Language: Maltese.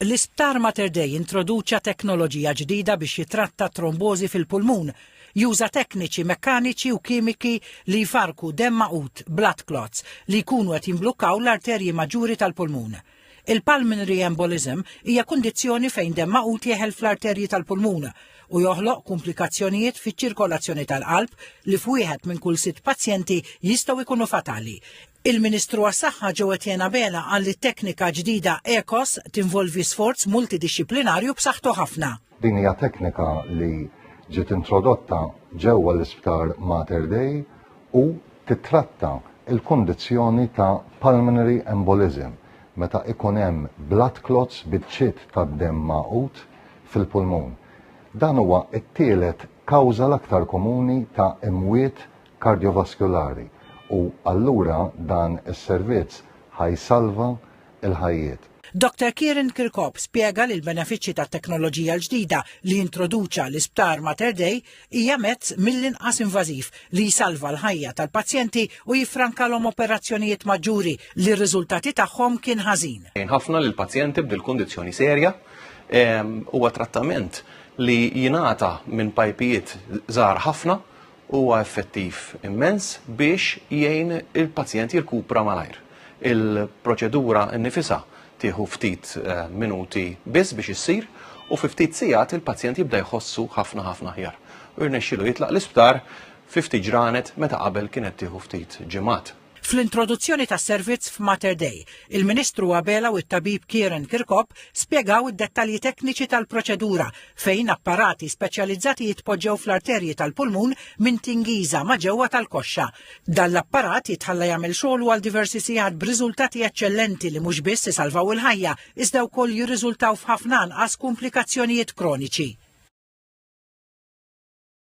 L-Isptar Mater Dei introduċa teknoloġija ġdida biex jitratta t-trombożi fil-pulmun. Juża tekniċi mekkaniċi u kimiki li jfarrku demm magħqud, blood clots, li jkunu qed jimblukkaw l-arterji maġġuri tal-pulmun. Il-pulmonary embolism hija kundizzjoni fejn demm magħqud jeħel fl-arterji tal-pulmun u joħloq kumplikazzjonijiet fiċ-ċirkolazzjoni tal-qalb li f'wieħed minn kull sitt pazjenti jistgħu jkunu fatali. Il-Ministru għas-Saħħa Joe Etienne Abela qal li t-teknika ġdida ECOS tinvolvi sforz multidixxiplinarju b'saħħtu ħafna. Din hija teknika li ġiet introdotta ġewwa l-Isptar Mater Dei u tittratta l-kundizzjoni ta' pulmonary embolism meta ikun hemm blood clots, biċċiet tad-demm magħqud, fil-pulmun. Dan huwa t-tielet kawża l-aktar komuni ta' imwiet kardjovaskulari u allura dan is-servizz ħa jsalva l-ħajjiet. Doctor Kieran Kirkop spjega li l-benefiċċji tat-teknoloġija l-ġdida li introduċa l-Isptar Mater Dei hija mezz mill-inqas invażiv li jsalva l-ħajja tal-pazjenti u jiffrankalhom operazzjonijiet maġġuri li r-riżultati tagħhom kien ħażin. Jgħin ħafna lill-pazjenti b'dil kundizzjoni serja huwa trattament li jingħata minn pajpijiet żgħar ħafna huwa effettiv immens biex jgħin il-pazjent jirkupra malajr. Il-proċedura nnifisha tieħu ftit eh, minuti biss biex issir u fi ftit sigħat il-pazjent jibda jħossu ħafna ħafna ħjar. U jirnexxilu jitlaq l-isptar fi ftit ġranet meta qabel kienet tieħu ftit ġimgħat. Fl-introduzzjoni tas-servizz f'Mater Dei, il-Ministru Abela u t-Tabib Kieran Kirkop spjegaw id-dettalji tekniċi tal-proċedura fejn apparati speċjalizzati jitpoġġew fl-arterji tal-pulmun minn tingiża ma' ġewwa tal-koxxa. Dan l-apparat jitħalla jagħmel xogħlu għal diversi sigħat b'riżultati eċċellenti li mhux biss isalvaw il-ħajja iżda wkoll jirriżultaw f'ħafna anqas kumplikazzjonijiet kroniċi.